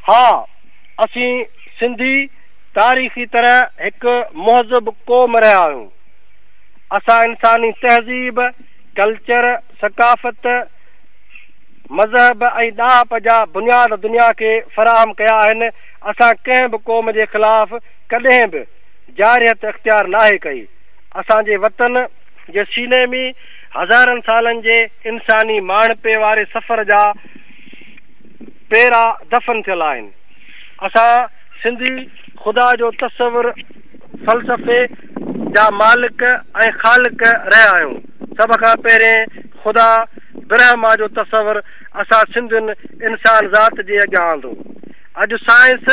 ها، اسين سنڌي تاريخي طرح هڪ مهذب قوم رهيا آهيون. اسان انساني تهذيب، ڪلچر، ثقافت، مذهب ۽ ڏاهپ جا بنياد دنيا کي فراهم ڪيا آهن. اسان ڪنهن به قوم جي خلاف ڪڏهن به جارحيت اختيار ناهي ڪئي. اسان جي وطن جي سيني ۾ هزارن سالن جي انساني ماڻهپي واري سفر جا پيرا دفن ٿيل آهن. اسان سنڌي خدا جو تصور فلسفي جا مالڪ ۽ خالق رهيا آهيون. سڀ کان پهرين خدا برهما جو تصور اسان سنڌين انسان ذات جي اڳيان آندو. اڄ سائنس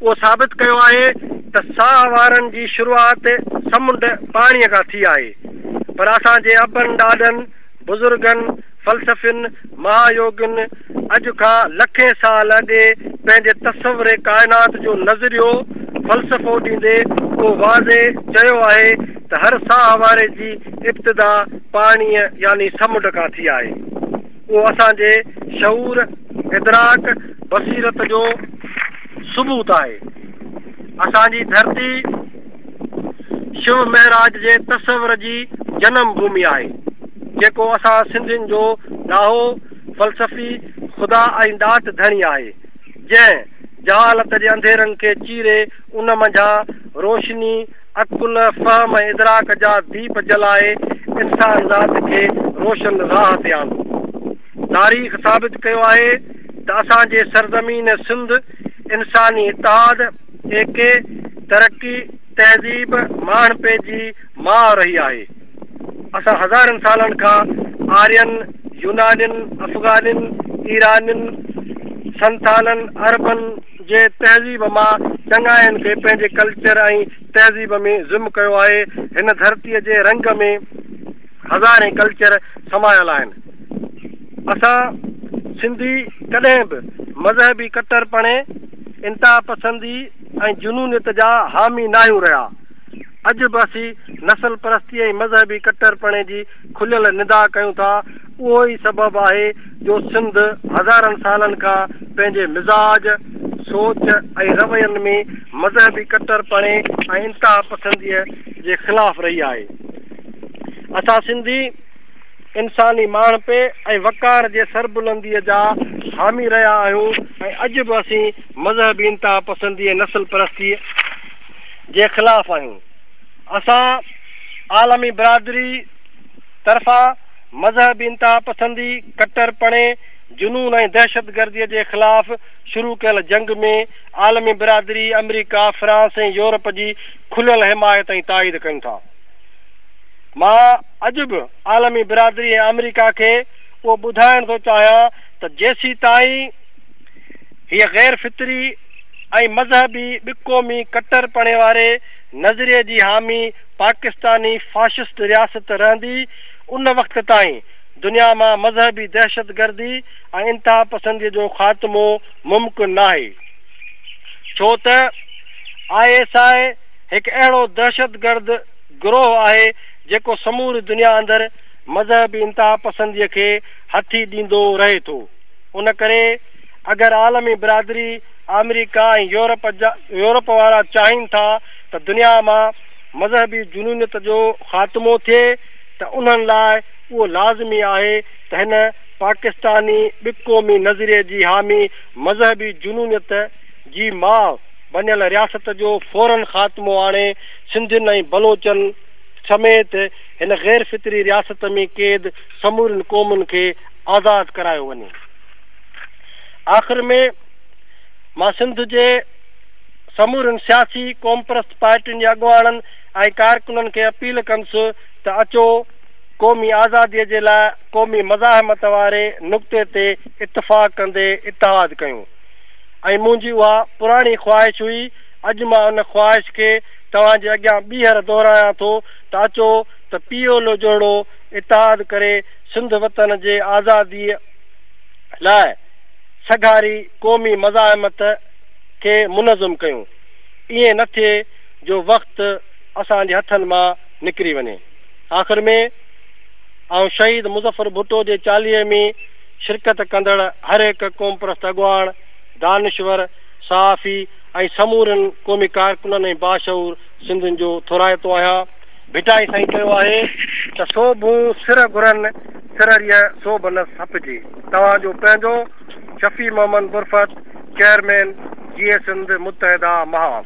اهو ثابت ڪيو آهي ته ساهه وارن جي شروعات سمنڊ پاڻي کان ٿي آهي پر اسان جي ابن ڏاڏن بزرگن فلسفين، مها يوگين، اڄ کان لکين سال اڳي پنهنجي تصور ڪائنات جو نظريو، فلسفو، ڏيندي اهو واضح چيو آهي ته هر ساهه واري جي ابتدا پاڻيء يعني سمنڊ کان ٿي آهي. اهو اسان جي شعور، ادراڪ، بصيرت جو ثبوت آهي. اسان جي ڌرتي. شو مهراج جي تصور جي جنم ڀومي آهي، جيڪو اسان سنڌين جو ڏاهو، فلسفي، خدا ۽ ڏات ڌڻي آهي، جنهن جهالت جي انڌيرن کي چيري ان منجهان روشني، عقل، فهم ۽ ادراڪ جا ديپ جلائي انسان ذات کي روشن راهه تي آندو. تاريخ ثابت ڪيو آهي ته اسان جي سرزمين سنڌ انساني اتحاد، اي ڪي ترقي، تهذيب، ماڻهپي جي ماء رهي آهي. اسان هزارن سالن کان آرين، يونانين، افغانين، ايرانين، سنٿالن، عربن جي تهذيب مان چڱاين کي پنهنجي ڪلچر ۽ تهذيب ۾ ضم ڪيو آهي. هن ڌرتيء جي رنگ ۾ هزارين ڪلچر سمايل آهن. اسان سنڌي ڪڏهن به مذهبي ڪٽرپڻي. انتهاپسندي ۽ جنونيت جا حامي ناهيون رهيا. اڄ به اسين نسل پرستي ۽ مذهبي ڪٽرپڻي جي کليل ندا ڪيون ٿا، اهو ئي سبب آهي جو سنڌ هزارن سالن کان پنهنجي مزاج، سوچ ۽ روين ۾ مذهبي ڪٽرپڻي ۽ انتهاپسنديء جي خلاف رهي آهي. اسان سنڌي. انساني ماڻهپي ۽ وقار جي سربلنديء جا حامي رهيا آهيون ۽ اڄ به اسين مذهبي انتهاپسندي ۽ نسل پرستيء جي خلاف آهيون. اسان عالمي برادري طرفان مذهبي انتهاپسندي، ڪٽرپڻي، جنون ۽ دهشتگرديء جي خلاف شروع ڪيل جنگ ۾ عالمي برادري، آمريڪا، فرانس ۽ يورپ جي کليل حمايت ۽ تائيد ڪيون ٿا. مان اڄ به عالمي برادري ۽ آمريڪا کي اهو ٻڌائڻ ٿو چاهيان ته جيسيتائين هيء غير فطري ۽ مذهبي ٻه قومي ڪٽر پڻي واري نظريي جي حامي پاڪستاني فاشسٽ رياست رهندي ان وقت تائين دنيا مان مذهبي دهشت گردي ۽ انتها پسندي جو خاتمو ممڪن ناهي ڇو ته آء ايس آء هڪ اهڙو دهشت گرد گروهه آهي جيڪو سموري دنيا اندر مذهبي انتهاپسندي کي هٿي ڏيندو رهي ٿو ان ڪري اگر عالمي برادري آمريڪا ۽ يورپ يورپ وارا چاهين ٿا ته دنيا مان مذهبي جنونيت جو خاتمو ٿئي ته انهن لاء اهو لازمي آهي ته هن پاڪستاني ٻقومي نظريي جي حامي مذهبي جنونيت جي ماء بنيل رياست جو فورن خاتمو آڻي سنڌين ۽ بلوچن سميت هن غير فطري رياست ۾ قيد سمورين قومن کي آزاد ڪرايو وڃي. آخر ۾ مان سنڌ جي سمورين سياسي قومپرست پارٽين جي اڳواڻن ۽ ڪارڪنن کي اپيل ڪندس ته اچو قومي آزادي جي لاء قومي مزاحمت واري نقطي تي اتفاق ڪندي اتحاد ڪيون ۽ منهنجي اها پراڻي خواهش هئي اڄ مان ان خواهش کي توهان جي اڳيان ٻيهر دهرايان ٿو ته اچو ته پي ايل او جهڙو اتحاد ڪري سنڌ وطن جي آزاديء لاء سگهاري قومي مزاحمت کي منظم ڪيون. ائين نه ٿئي جو وقت اسان جي هٿن مان نڪري وڃي. آخر ۾ آئون شهيد مظفر ڀٽو جي چاليهي ۾ شرڪت ڪندڙ هرهڪ قومپرست اڳواڻ، دانشور، صحافي، ۽ سمورن قومي ڪارڪنن ۽ باشعور سنڌين جو ٿورائتو آهيان. ڀٽائي سائين چيو آهي ته سو ڀون سر گهرن سر ريء سو بنس هپجي توهان جو پنهنجو شفيع محمد برفت چيئرمين جي اي سنڌ متحده محاف.